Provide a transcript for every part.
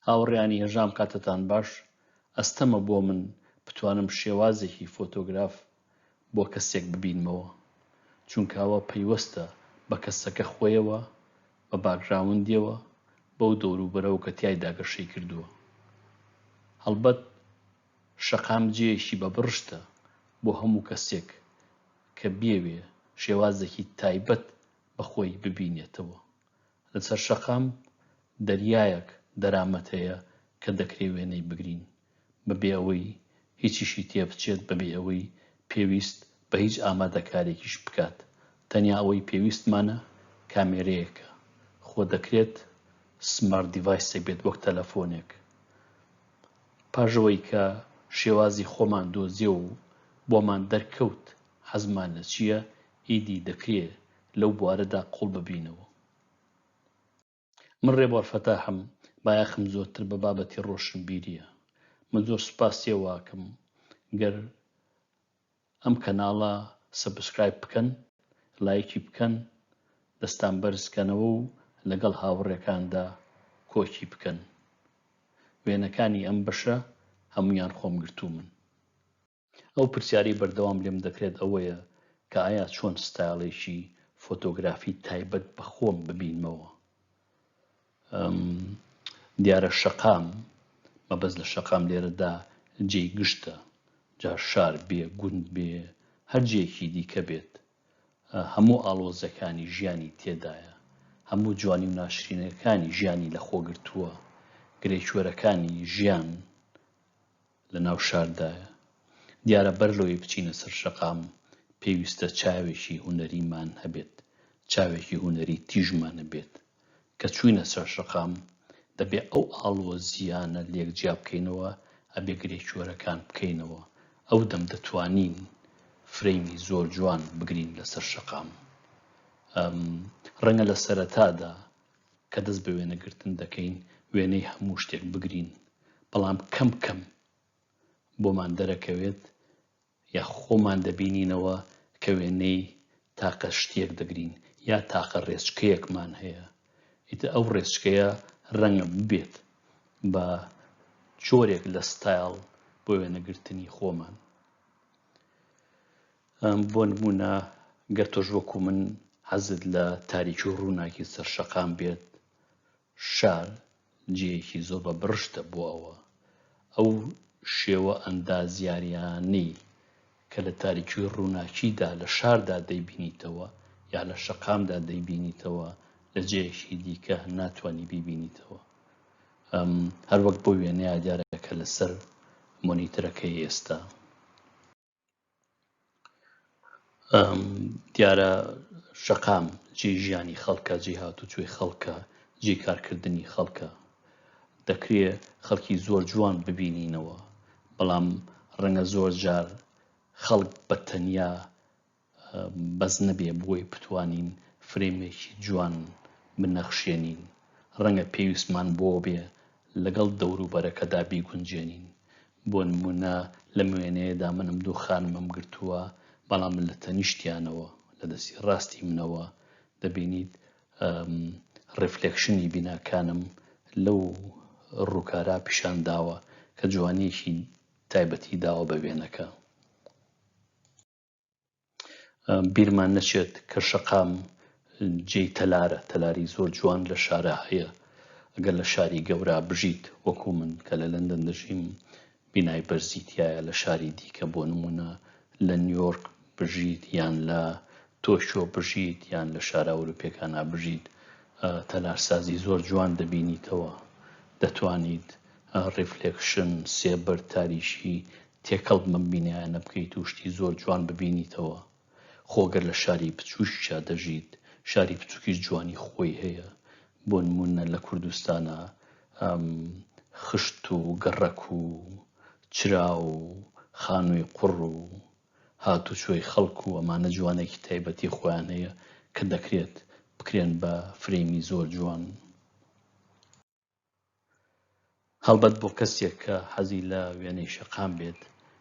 هاوڕێیانی هێژام کاتتان باش، ئەستەمە بۆ من بتوانم شێوازێکی فۆتۆگراف بۆ کەسێک ببینمەوە، چونکە ئەوە پەیوەستە بە کەسەکە خۆیەوە، بە باکگراوندیەوە، بەو دەوروبەرەوە کە تیایدا گەشەی کردووە. هەڵبەت شەقام جێیەکی بە بڕشتە بۆ هەموو کەسێک کە بیەوێ شێوازێکی تایبەت بە خۆی ببینێتەوە. لە سەر شەقام دەریایەک دەرامەت هەیە کە دەکرێ وێنەی بگرین بە بێ ئەوەی هیچیشی تێ بچێت بە بێ ئەوەی پێویست بە هیچ ئامادەکارێکیش بکات تەنیا ئەوەی پێویستمانە کامێرەیەکە خۆ دەکرێت سمارت دیڤایسێک بێت وەک تەلەفۆنێک پاش ئەوەی کە شێوازی خۆمان دۆزیەوە و بۆمان دەرکەوت حەزمان لە چییە ئیدی دەکرێ لەو بوارەدا قوڵ ببینەوە من رێبوار فەتاحم بایەخم زۆرتر بە بابەتی رۆشنبیریە من زۆر سوپاسی ئەوەکەم گەر ئەم کەناڵە سەبسکرایب بکەن لایکی بکەن دەستان بەرزکەنەوە و لەگەڵ هاوڕێکاندا کۆچی بکەن وێنەکانی ئەم بەشە هەموویان خۆم گرتوومن. ئەو پرسیارەی بەردەوام لێم دەکرێت ئەوەیە کە ئایا چۆن ستایڵێکی فۆتۆگرافی تایبەت بە خۆم ببینمەوە؟ دیارە شەقام مەبەست لە شەقام لێرەدا جێی گشتە جا شار بێ گوند بێ هەر جێکی دیکە بێت هەموو ئاڵۆزەکانی ژیانی تێدایە هەموو جوانی و ناشرینەکانی ژیانی لە خۆگرتووە گرێکوەرەکانی ژیان لە ناو شاردایە. دیارە بەر لەوەی بچینە سەر شەقام پێویستە چاوێکی هونەریمان هەبێت، چاوێکی هونەری تیژمان هەبێت. کە چووینە سەر شەقام دەبێ ئەو ئاڵۆزییانە لێک جیا بکەینەوە، ئەبێ گرێکوێرەکان بکەینەوە. ئەو دەم دەتوانین فرەیمی زۆر جوان بگرین لە سەر شەقام. ڕەنگە لە سەرەتادا کە دەست بە وێنەگرتن دەکەین وێنەی هەموو شتێک بگرین، بەڵام کەم کەم بۆمان دەرەکەوێت یا خۆمان دەبینینەوە کە وێنەی تاقە شتێک دەگرین یا تاقە ڕێچکەیەکمان هەیە ئیتە ئەو ڕێچکەیە ڕەنگە ببێت بە جۆرێک لە ستایل بۆ وێنەگرتنی خۆمان بۆ نموونە گەر تۆش وەکو من حەزت لە تاریکی و ڕووناکی سەر شەقام بێت، شار جێیەکی زۆر بە بڕشتە بۆ ئەوە. ئەو شێوە ئەندازیارییانەی کە لە تاریکی و ڕووناکیدا لە شاردا دەیبینیتەوە یا لە شەقامدا دەیبینیتەوە لە جێیەکی دیکە ناتوانی بیبینیتەوە. هەروەک بۆ وێنەیە دیارە کە لەسەر مۆنیترەکەی ئێستا. دیارە شەقام جێ ژیانی خەڵکە جێ هاتوچۆی خەڵکە جێ کارکردنی خەڵکە دەکرێ خەڵکی زۆر جوان ببینینەوە بەڵام ڕەنگە زۆر جار خەڵک بە تەنیا بەس نەبێ بۆی بتوانین فرەیمێکی جوان بنەخشێنین، ڕەنگە پێویستمان بۆ بێ لەگەڵ دەوروبەرەکەدا بیگونجێنین، بۆ نموونە لەم وێنەیەدا من ئەم دوو خانمەم گرتووە، بەڵام لە تەنیشتیانەوە، لە دەستی ڕاستی منەوە دەبینیت ڕیفلێکشنی بیناکانم لەو ڕووکارە پیشان داوە کە جوانییەکی تایبەتی داوە بە وێنەکە. بیرمان نەچێت کە شەقام جێی تەلارە تەلاری زۆر جوان لە شارە هەیە ئەگەر لە شاری گەورە بژیت وەکو من کە لە لەندەن دەژیم بینای بەرزیتایە لە شاری دیکە بۆ نمونە لە نیویۆرک بژیت یان لە تۆشۆ بژیت یان لە شارە ئەوروپیەکانە بژیت تەلارسازی زۆر جوان دەبینیتەوە دەتوانیت ڕیفلێکشن سێبەر تاریشی تێکەڵ بم ئەم بینایانە بکەیت و شتی زۆر جوان ببینیتەوە خۆ گەر لە شاری بچووکیشا دەژیت شاری بچووکیش جوانی خۆی هەیە بۆ نموونە لە کوردستانا ئەم خشت و گەڕەک و چرا و خانووی قوڕ و هاتوچۆی خەڵک و ئەمانە جوانێکی تایبەتی خۆیان هەیە کە دەکرێت بکرێن بە فرەیمی زۆر جوان. هەڵبەت بۆ کەسێک کە حەزی لە وێنەی شەقام بێت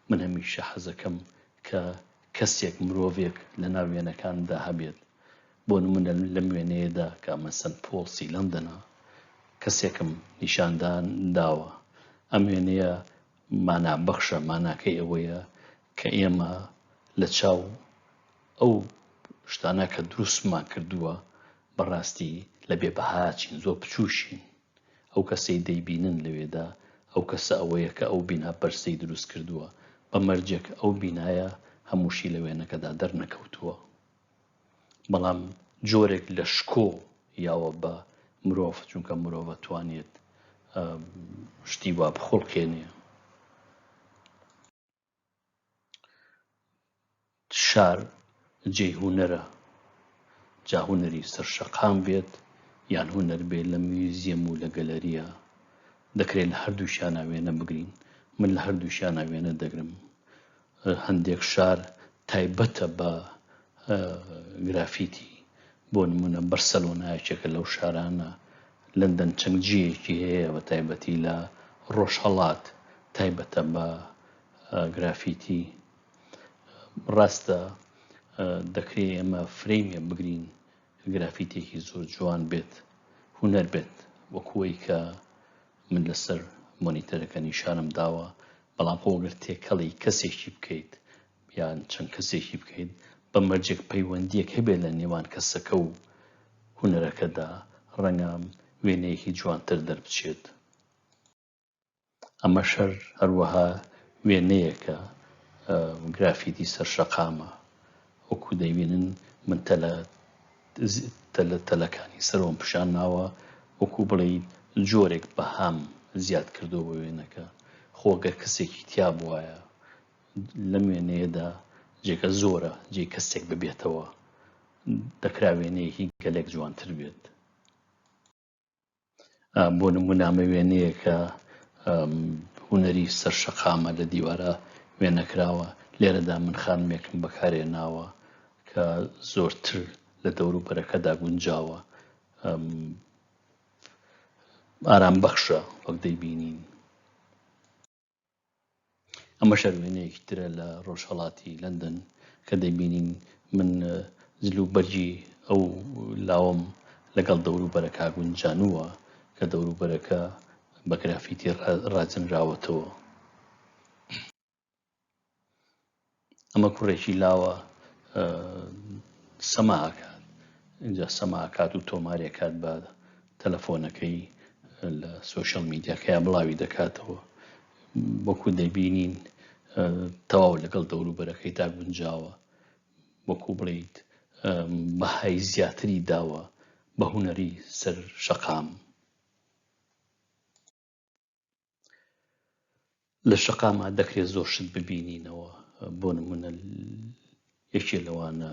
من هەمیشە حەزەکەم کە کەسێک مرۆڤێک لە ناو وێنەکاندا هەبێت بۆ نمونە لەم وێنەیەدا کە مەسەن پۆڵ سیلەم دەنا کەسێکم نیشاندان داوە ئەم وێنەیە مانا بەخشە ماناکەی ئەوەیە کە ئێمە لە چاو ئەو شتانە کە دروستمان کردووە بەڕاستی لە بێ بەهاچین، زۆر بچووکین. ئەو کەسەی دەیبینن لەوێدا، ئەو کەسە ئەوەیە کە ئەو بینا بەرزەی دروست کردووە، بە مەرجێک ئەو بینایە هەمووشی لە وێنەکەدا دەرنەکەوتووە. بەڵام جۆرێک لە شکۆ یاوە بە مرۆڤ، چونکە مرۆڤ ئەتوانێت شتی وا بخوڵقێنێ. شار جێی هونەرە، جا هونەری سەر شەقام بێت یان هونەر بێت لە میوزیەم و لە گەلەریا، دەکرێت لە هەردووکیانا وێنە بگرین، من لە هەردووکیانا وێنە دەگرم، هەندێک شار تایبەتە بە گرافیتی، بۆ نموونە بەرسەلۆنا یەکێکە لەو شارانە، لەندەن چەند جێیەکی هەیە بە تایبەتی لە ڕۆژهەڵات تایبەتە بە گرافیتی ڕاستە دەکرێ ئێمە فرەیمێ بگرین گرافیتێکی زۆر جوان بێت هوەر بێت وەکوی کە من لەسەر مۆنیتەرەکە نیشانم داوە بەڵام خۆگەر تێکەڵی کەسێکی بکەیت یان چەند کەسێکی بکەیت بە مەرجێک پەیوەندیەک هەبێت لە نێوان کەسەکە و هونەرەکەدا ڕەنگە وێنەیەکی جوانتر دەربچێت ئەمە شەر هەروەها وێنەیەکە گرافیتی سەر شەقامە وەکو دەبینن من تەلە تەلە تەلەکانی سەرۆم پیشان ناوە وەکو بڵێ جۆرێک بەهام زیاد کردو بە وێنەکە خۆگەر کەسێکی تیا بواە لەم وێنەیەدا جێگە زۆرە جێی کەسێک ببێتەوە دەکرا وێنەیەکی گەلێک جوانتر بێت بۆ نمونامە وێنەیەکە هوەری سەر شەقامە لە دیوارە وێنەکراوە لێرەدا من خانمێکم بەکارێ ناوە کە زۆرتر لە دەورو بەرەکەدا گونجاوە ئارام بەخشە وەک دەیبینین ئەمە شەرمێنەیەکی ترە لە ڕۆژهڵاتی لەندەن کە دەبینین من جل و بەرگی ئەو لاوم لەگەڵ دەوروبەرە کاگونجانووە کە دەوروبەرەکە بە گرافیتی ڕاجنراوەتەوە. ئەمە کوڕێکی لاوە سەماکات اینجا سەماکات و تۆمارێکات بە تەلەفۆنەکەی لە سوۆشل میدیاکەیا بڵاوی دەکاتەوە وەکو دەبینین تەواو لەگەڵ دەوروبەرەکەی تا گونجاوە وەکو بڵیت بەهای زیاتری داوە بە هوەری سەر شەقام لە شەقامە دەکرێت زۆر شت ببینینەوە بۆ نمونە یەکێ لەوانە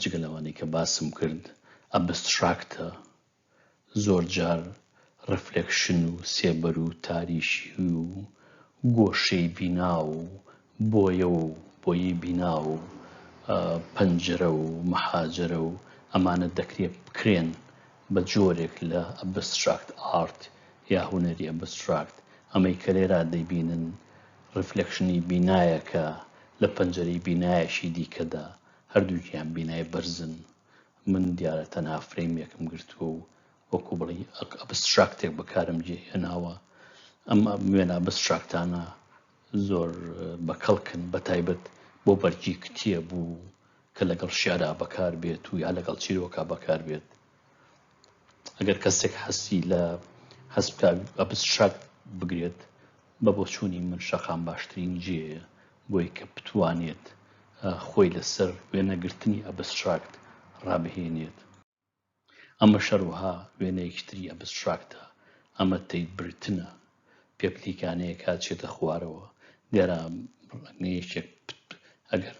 جگە لەوانەی کە باسم کرد ئەبستراکتە زۆر جار ڕفلێکشن و سێبەر و تاریشی و گۆشەی بینا و بۆیە و بۆیی بینا و پەنجرە و مەحاجرە و ئەمانە دەکرێت بکرێن بە جۆرێک لە ئەبستراکت ئارت یا هونەری ئەبستراکت، ئەمەی کە لێرا دەیبینن ڕیفلێکشنی بینایەکە لە پەنجەرەی بینایەکی دیکەدا، هەردووکیان بینای بەرزن، من دیارە تەنها فرەیمێکم گرتووە و وەکو بڵێی ئەبستراکتێک بەکارم جێ هێناوە، ئەم وێنە ئەبستراکتانە زۆر بە کەڵکن بە تایبەت بۆ بەرگی کتێب و کە لەگەڵ شیعرا بەکار بێت و یا لەگەڵ چیرۆکا بەکار بێت ئەگەر کەسێک حەستی لە هەست بکات ئەبست شاک بگرێت بە بۆچوونی من شەقام باشترین جێیە بۆی کە بتوانێت خۆی لەسەر وێنەگرتنی ئەبستراکت ڕابهێنێت ئەمەش هەروەها وێنەیەکی تری ئەبستراکتە، ئەمە تێیبرتنە پێپلیکانەیەکە چێتە خوارەوە، دیارە ڕەنگەیەکێک ئەگەر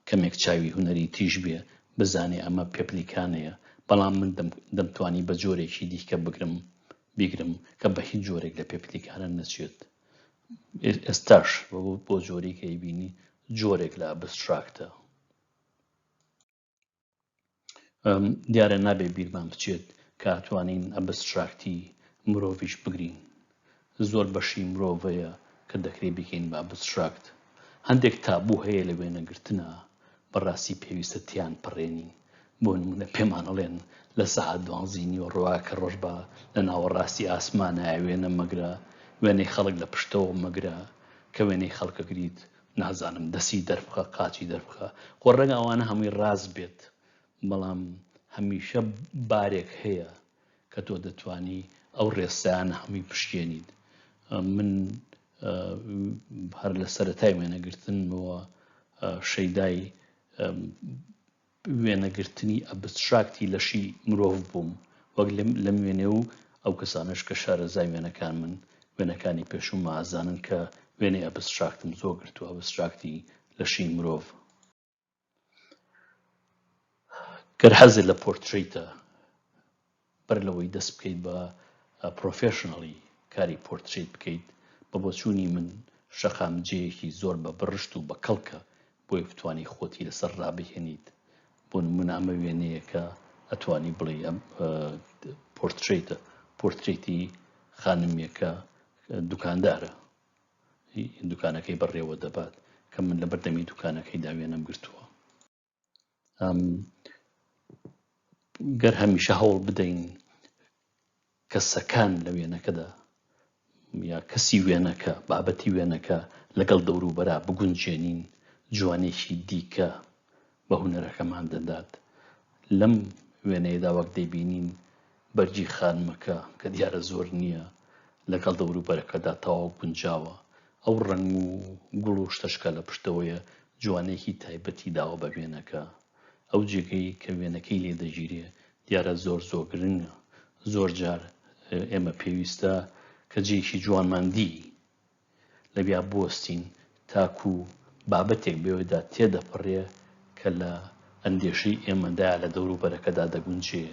کەمێک چاوی هونەری تیژ بێ بزانێ ئەمە پێپلیکانەیە، بەڵام من دەمتوانی بە جۆرێکی دیکە بگرم بیگرم کە بە هیچ جۆرێک لە پێپلیکانە نەچێت. ئێستاش بۆ جۆرێک ئەیبینی جۆرێک لە ئەبستراکتە. دیارە نابێ بیرمان بچێت کە توانین ئەبستراکتی مرۆڤیش بگرین زۆر بەشی مرۆڤەیە کە دەکرێ بکەین بە ئەبستراکت هەندێک تابوو هەیە لە وێنەگرتنە بەڕاستی پێویستە تیان پڕێنین بۆ نمونە پێمان ئەڵێن لە سەعات دوانزی نیوە ڕوا کە ڕۆژ بە لە ناوەڕاستی ئاسمانە وێنە مەگرە وێنەی خەڵک لە پشتەوە مەگرە کە وێنەی خەڵکەگریت نازانم دەسی دەربخە قاچی دەربخە خۆ ڕەنگە ئەوانە هەمووی ڕاست بێت بەڵام هەمیشە بارێک هەیە کە تۆ دەتانی ئەو ڕێسایانە هەمووی پشکێنیت من هەر لە سەرەتای وێنەگرتنمەوە شەیدای وێنەگرتنی ئەبستراکتی لەشی مرۆڤ بووم، وەک لەم وێنەیە و ئەو کەسانەش کە شارەزای وێنەکانمن، وێنەکانی پێشوومە ئەزانن کە وێنەی ئەبستراکتم زۆر گرتووە، ئەبستراکتی لەشی مرۆڤ. گەر حەزت لە پۆرترەیتە بەر لەوەی دەست بکەیت بە پرۆفێشناڵی کاری پۆرترەیت بکەیت، بە بۆچوونی من شەقام جێیەکی زۆر بە بڕشت و بە کەڵکە بۆی بتوانی خۆتی لەسەر ڕابهێنیت، بۆ نموونە ئەمە وێنەیەکە ئەتوانی بڵێی ئەم پۆرترەیتە، پۆرترەیتی خانمێکە دوکاندارە دوکانەکەی بەڕێوە دەبات، کە من لەبەردەمی دوکانەکەیدا وێنەم گرتووە. گەر هەمیشە هەوڵ بدەین کەسەکان لە وێنەکەدا یا کەسی وێنەکە بابەتی وێنەکە لەگەڵ دەوروبەرا بگونجێنین جوانێکی دیکە بە هوەرەکەمان دەدات لەم وێنەیەدا وەک دەبینین بەرگی خانمەکە کە دیارە زۆر نییە لەگەڵ دەوروبەرەکەدا تەواو گونجاوە، ئەو ڕەنگ و گوڵ و شتەش کە لە پشتەوەیە جوانییەکی تایبەتی داوە بە وێنەکە. ئەو جێگەی کە وێنەکەی لێ دەگیرێ دیارە زۆر زۆر گرنگە. زۆر جار ئێمە پێویستە کە جێیەکی جوانمان دی لەویا بوەستین تاکو بابەتێک بەوێدا تێدەپەڕێ کە لە ئەندێشەی ئێمەدایە لە دەوروبەرەکەدا دەگونجێ.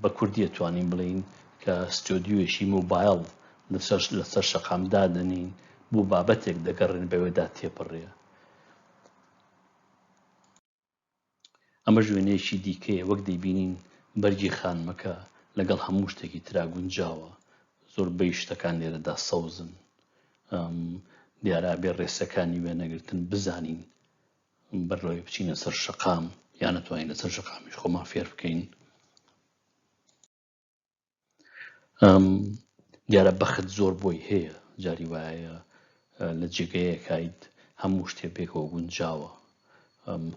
بە کوردی ئەتوانین بڵێین کە ستۆدیۆیەکی مۆبایڵ لەسەر شەقام دادەنین بۆ بابەتێک دەگەڕێن بەوێدا تێپەڕێ. ئەمەش وێنەیەکی دیکەیە وەک دەیبینین بەرگی خانمەکە لەگەڵ هەموو شتێکی ترا گونجاوە زۆربەی شتەکان لێرەدا سەوزن دیارە بێ ڕێسەکانی وێنەگرتن بزانین بەرەوەی بچینە سەر شقام یان نتوانین لەسەر شقامیش خۆمان فێر بکەین دیارە بەخت زۆر بۆی هەیە جاری وایە لە جێگەیەکیت هەموو شتێ پێکەوە گونجاوە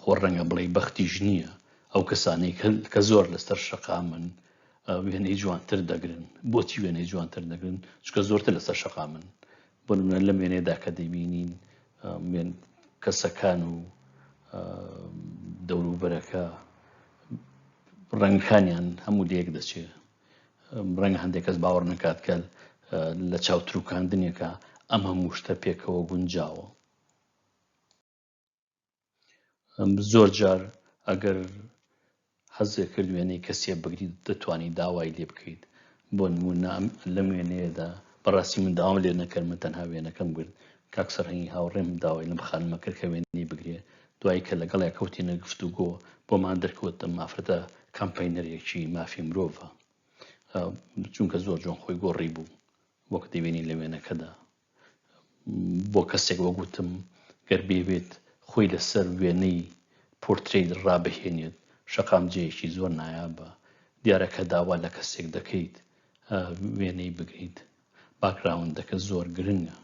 خۆ ڕەنگە بڵێ بەختیش نییە ئەو کەسانەی کە زۆر لەسەر شەقامن وێنەی جوانتر دەگرن بۆچی وێنەی جوانتر دەگرن چکە زۆرتر لەسەر شەقامن بۆ نمونە لەم وێنەیەدا کە دەیبینین کەسەکان و دەوروبەرەکە ڕەنگەکانیان هەموو لەیەک دەچێت ڕەنگە هەندێک کەس باوەڕ نکات کە لە چاوتروکاندنێکە ئەم هەموو شتە پێکەوە گونجاوە زۆر جار ئەگەر حەزێ کرد وێنەی کەسێ بگریت دەتوانانی داوای لێ بکەیت بۆ نمونە لەم وێنەیەدا بەڕاستی من داوام لێ نەکرد من تەنها وێنەکەم گرت کاک سەرهەنگی هاوڕێم داوای لەم خانمە کرد کە وێنەی بگرێ دوای کە لەگەڵی کەوتینە گفت و گۆ بۆمان دەرکەوت مافرەتە کامپینەرێکی مافی مرۆڤە چونکە زۆر جۆن خۆی گۆڕی بوو وەک دەوێنی لە وێنەکەدا بۆ کەسێک وەک وتم گەر بیەوێت خۆی لەسەر وێنەی پۆرترەیت ڕابهێنێت شەقامجەیەکی زۆر نایابە دیارە کە داوا لە کەسێک دەکەیت وێنەی بگریت باکراوندەکە زۆر گرنگە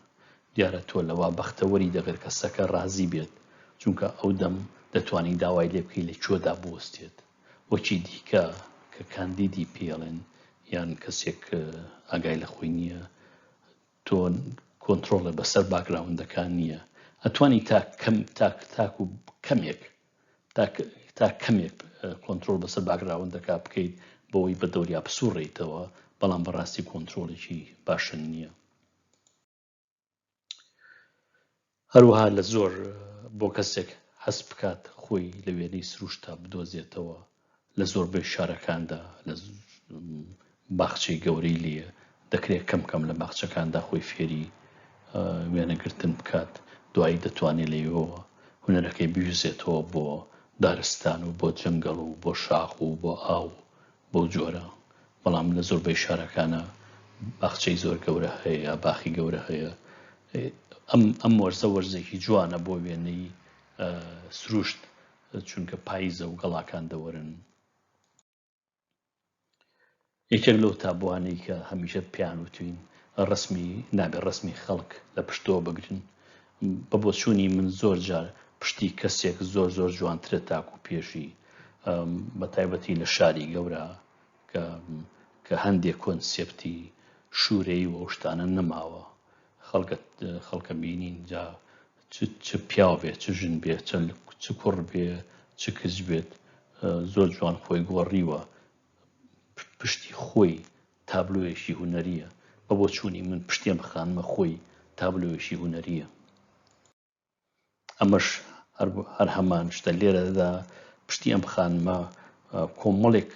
دیارە تۆ لەوا بەختەوەری دەگەر کەسەکە ڕازی بێت چونکە ئەو دەم دەتوانین داوای لێ بکەی لە کوێدا بوەستێت وەکی دیکە کە کاندیدی پێڵێن یان کەسێک ئاگای لە خۆی نییە تۆ کۆنترۆڵێ بەسەر باکگراوندەکان نییە ئەتوانی تا کەم تاک تاک و کەمێک تا کەمێک کۆنتترۆل بەسەر باگراوندەکە بکەیت بەوەی بە دەوریا بسوڕیتەوە بەڵام بەڕاستی کۆنتترۆلێکی باشە نییە هەروەها لە زۆر بۆ کەسێک هەست بکات خۆی لە وێنەی سروشتا بدۆزێتەوە لە زۆربەی شارەکاندا لە باخچەی گەورەی لێە دەکرێت کەم کەم لە باخچەکاندا خۆی فێری وێنەگرتن بکات دوایی دەتوانێت لەوەوە هونەرەکەی بویزێتەوە بۆ دارستان و بۆ جەنگەڵ و بۆ شاخ و بۆ ئاو بەو جۆرە بەڵام لە زۆربەی شارەکانا باخچەی زۆر گەورە هەیە یا باخی گەورە هەیە ئەم ئەم وەرزە وەرزێکی جوانە بۆ وێنەی سروشت چونکە پاییزە و گەڵاکان دەوەرن یەکێک لەو تابوانەی کە هەمیشە پیان وتوین ڕسمی نابێ ڕسمی خەڵک لە پشتەوە بگرن بە بۆچوونی من زۆر جار پشتی کەسێک زۆر زۆر جوانترە تاکو پێشی بە تایبەتی لە شاری گەورە کە کە هەندێک کۆنسپتی شوورەی و ئەوشتانە نەماوە خەڵکت خەڵکە بینین جا چ پیاو بێت چ ژن بێ چ کوڕ بێ چ کچ بێت زۆر جوان خۆی گۆڕیوە پشتی خۆی تابلۆیەکی هونەرییە، بە بۆچوونی من پشتێن خانمە خۆی تابلۆیەکی هونەرییە. ئەمەش هەر هەمان شتە لێرەدا پشتی ئەم خانمە کۆمەڵێک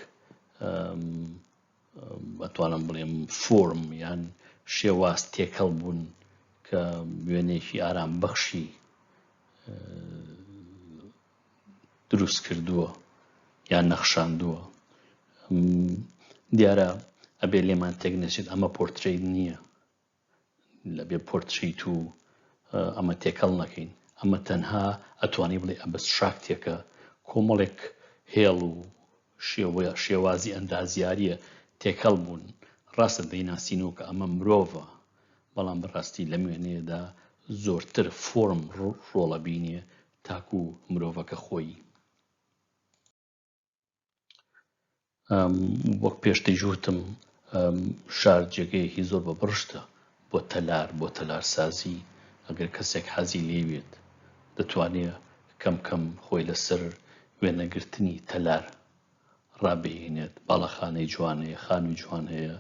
بەتوانم بڵێم فۆرم یان شێواز تێکەڵ بوون کە وێنێکی ئارام بەخشی دروست کردووە یان نەخشاندووە دیارە ئەبێ لێمان تێک نەچێت ئەمە پۆرتریت نییە لە بێ پۆرتریت و ئەمە تێکەڵ نەکەین ئەمە تەنها ئەتوانی بڵێ ئەبست شاکتێکە کۆمەڵێک هێڵ و شێوەیە شێوازی ئەندازیاریە تێکەڵ بوون ڕاستە دەیناسینەوە کە ئەمە مرۆڤە بەڵام بەڕاستی لە مێنێدا زۆرتر فۆرم ڕۆڵە بینێ تاکو مرۆڤەکە خۆی وەک پێشتر جوتم شار جێگەیەکی زۆر بە بڕشتە بۆ تەلار بۆ تەلارسازی ئەگەر کەسێک حەزی لێوێت دەتوانێت کەم کەم خۆی لەسەر وێنەگرتنی تەلار ڕابهینێت باڵەخانەی جوان هەیە خانوی جوان هەیە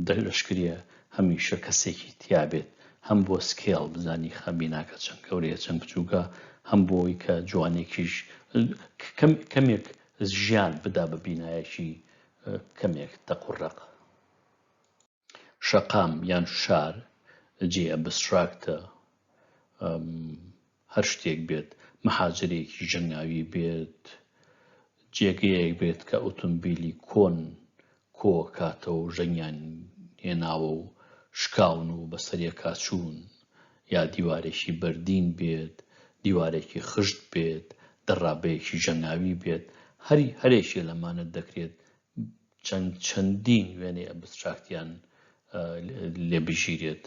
دەشکرێ هەمیشە کەسێکی تیابێت هەم بۆ سکێڵ بزانی خە بیناکە چەند گەورەیە چەند بچووکە هەم بۆی کە جوانێکیش کەمێک ژیان بدا بە بینایەکی کەمێک تەقڕق. شەقام یان شار جێی ئەبستراکتە، هەر شتێک بێت، مەحاجرێکی ژەنگاوی بێت، جێگەیەک بێت کە ئۆتۆمبیلی کۆن کۆکاتەوە ژەنگیان هێناوە و شکاون و بەسەرێکا چوون، یا دیوارێکی بەردین بێت، دیوارێکی خشت بێت، دەڕابەیەکی ژەنگاوی بێت، هەر هەرێکێ لەمانە دەکرێت چەند چەندین وێنەی ئەبستراکتیان لێ بگیرێت،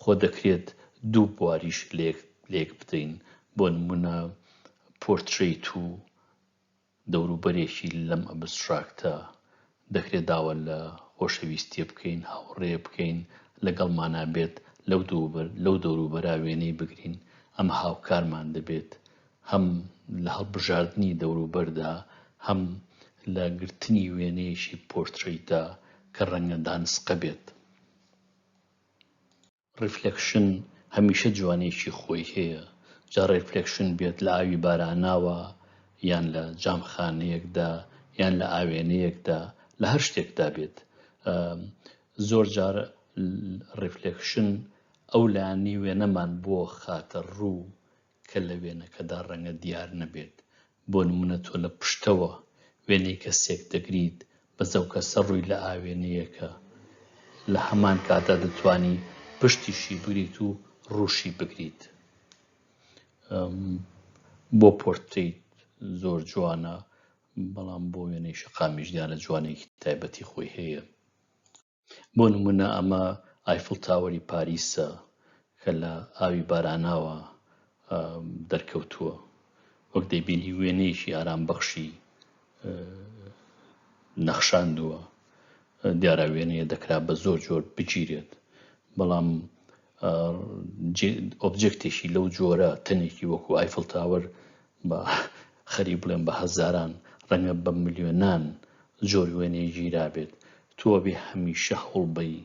خۆ دەکرێت دوو بواریش لێک بدەین، بۆ نموونە پۆرترەیت و دەوروبەرێکی لەم ئەبستراکتە، دەکرێت داوا لە خۆشەویستییە بکەین، هاوڕێیە بکەین، لەگەڵمانا بێت، لەو دەوروبەرە وێنەی بگرین، ئەمە هاوکارمان دەبێت هەم لە هەڵبژاردنی دەوروبەردا، هەم لە گرتنی وێنەیەکی پۆرترەیتدا کە ڕەنگە دانسقە بێت. ڕیفلێکشن هەمیشە جوانییەکی خۆی هەیە، جا ڕیفلێکشن بێت لە ئاوی باراناوە، یان لە جامخانەیەکدا، یان لە ئاوێنەیەکدا، لە هەر شتێکدا بێت. زۆر جار ڕیفلێکشن ئەو لایەنەی وێنەمان بۆ خاتە ڕوو کە لە وێنەکەدا ڕەنگە دیار نەبێت، بۆ نموونە تۆ لە پشتەوە وێنەی کەسێک دەگریت، بەس ئەو کەسە ڕووی لە ئاوێنەیەکە، لە هەمان کاتدا دەتوانی پشتیشی بگریت و ڕووشی بگریت. بۆ پۆرتریت زۆر جوانە بەڵام بۆ وێنەی شەقامیش دیارە جوانێکی تایبەتی خۆی هەیە. بۆ نمونە ئەمە ئایفڵ تاوەری پاریسە کە لە ئاوی باراناوە دەرکەوتووە وەک دەیبینی وێنەیەکی ئارام بەخشی نەخشاندووە دیارە وێنەیە دەکرا بە زۆر جۆر بگیرێت بەڵام ئۆبجێکتێکی لەو جۆرە تەنێکی وەکو ئایفل تاوەر بە خەری بڵێن بە هەزاران ڕەنگە بە ملیۆنان زۆر وێنەی گیرابێت تۆ ئەبێ هەمیشە هەوڵبەی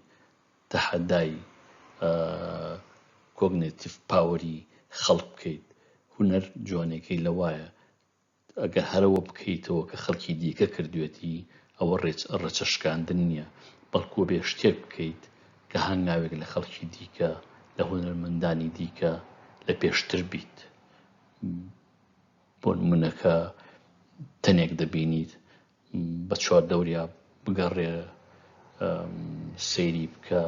تەحەدای کۆگنێتیڤ پاوەری خەڵک بکەیت، هونەر جوانیەکەی لەوایە ئەگەر هەر ئەوە بکەیتەوە کە خەڵکی دیکە کردوێتی ئەوە ڕێچە شکاندن نیە، بەڵکو ئەبێ شتێک بکەیت کە هەنگاوێک لە خەڵکی دیکە، لە هونەرمەندانی دیکە لە پێشتر بیت. بۆ نمونە کە تەنێک دەبینیت بە چوار دەوریا بگەڕێ سەیری بکە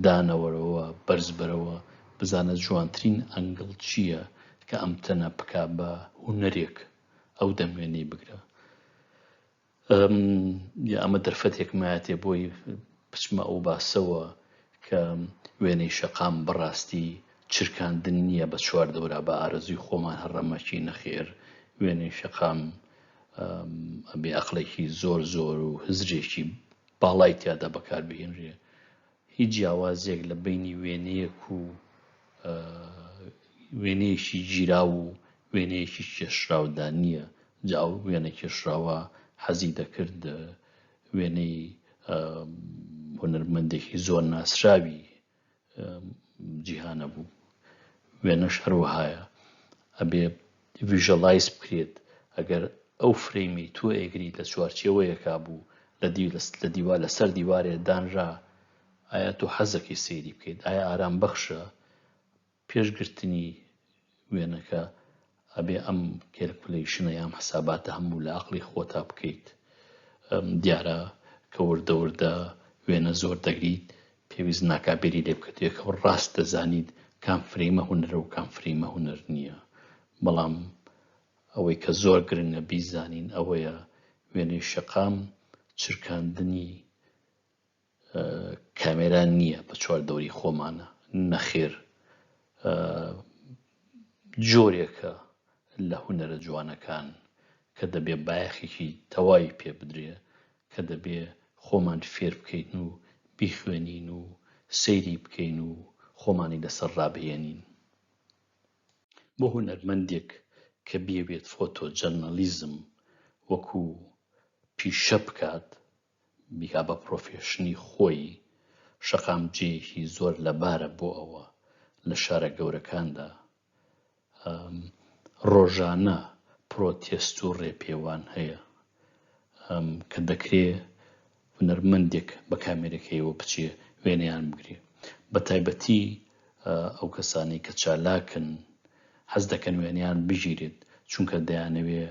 دانەوەرەوە بەرزبەرەوە بزانە جوانترین ئەنگڵ چییە کە ئەم تەنە بکا بە هوەرێک ئەو دەمێنی بگرە ئەمە دەرفەتێکمایەتێ بۆی بچمە ئەو باسەوە کە وێنەی شەقام بە ڕاستی چرکاندن نییە بە چوار دەورا بە ئارەزووی خۆمان هە رەمەکی نەخێر وێنەی شەقام ئەبێ ئەقڵێکی زۆر زۆر و هزرێکی باڵای تیادا بەکار بهێنرێ هیچ جیاوازێک لە بینی وێنەیەک و وێنەیەکی گیرا و وێنەیەکی کێشراودا نییە جاو وێنە کێشراوە حەزی دەکرد وێنەی هونەرمەندێکی زۆر ناسراوی جیهانە بوو وێنەش هەروەهایە ئەبێ ڤژەڵایز بکرێت ئەگەر ئەو فرەیمی تۆ ئێگری لە چوارچێوەیەکا بوو لە لە دیوا لەسەر دیوارێ دانرا ئایا تۆ حەزەکەی سەیری بکەیت ئایا ئارام بەخشە پێش گرتنی وێنەکە ئەبێ ئەم کێلکولەیشنە یام حساباتە هەموو لە ئەقڵی خۆتا بکەیت دیارە کە وردە وردە وێنە زۆر دەگریت پێویست ناکا بێری لێ بکەت یەکەوە ڕاست دەزانیت کام فرەیمە هونەرە و کام فرەیمە هونەر نییە بەڵام ئەوەی کە زۆر گرنگە بیزانین ئەوەیە وێنەی شەقام چرکاندنی کامێرا نییە بە چوار دەوری خۆمانە نەخێر جۆرێکە لە هونەرە جوانەکان کە دەبێ بایەخێکی تەواوی پێ بدرێ کە دەبێ خۆمان فێر بکەین و بیخوێنین و سەیری بکەین و خۆمانی لەسەر ڕابهێنین بۆ هونەرمەندێک کە بیەوێت فۆتۆ جەرنەلیزم وەکو پیشە بکات بیکا بە پرۆفێشنی خۆی شەقام جێیەکی زۆر لەبارە بۆ ئەوە لە شارە گەورەکاندا ڕۆژانە پرۆتێست و ڕێپێوان هەیە کە دەکرێ هونەرمەندێک بە کامێرەکەیەوە بچێ وێنەیان بگرێ بە تایبەتی ئەو کەسانی کە چالاکن حەز دەکەن وێنیان بگیرێت چونکە دەیانەوێ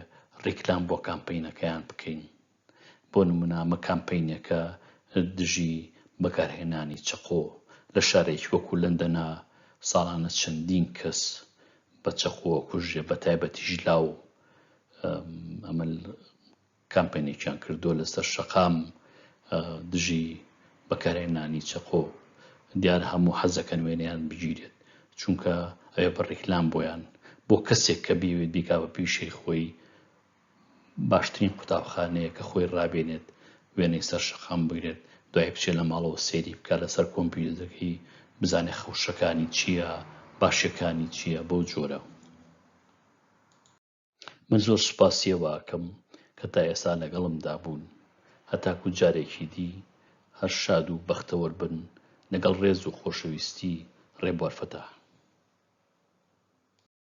ڕیکلام بۆ کامپینەکەیان بکەین بۆ نموونە ئەمە کامپەینێکە دژی بەکارهێنانی چەقۆ لە شارێکی وەکو لەندەنە ساڵانە چەندین کەس بە چەقۆ ئەکوژرێ بە تایبەتیش لاو ئەمە کامپەینێکیان کردووە لەسەر شەقام دژی بەکارهێنانی چەقۆ دیار هەموو حەزەکەن وێنیان بگیرێت چونکە ئەوێ بە ڕیکلام بۆیان بۆ کەسێک کە بیوێت بیکا بە پیشەی خۆی باشترین قوتابخانەیە کە خۆی ڕابێنێت وێنەی سەر شەقام بگرێت دوای بچێت لە ماڵەوە سەیری بکات لەسەر کۆمپیوتەکەی بزانێت خەوشەکانی چیە باشیەکانی چیە بەو جۆرە من زۆر سوپاسی ئەوەکەم کە تا ئێستا لەگەڵمدا بوون هەتاکو جارێکی دی هەر شاد و بەختەوەر بن لەگەڵ ڕێز و خۆشەویستی ڕێبوار فەتاح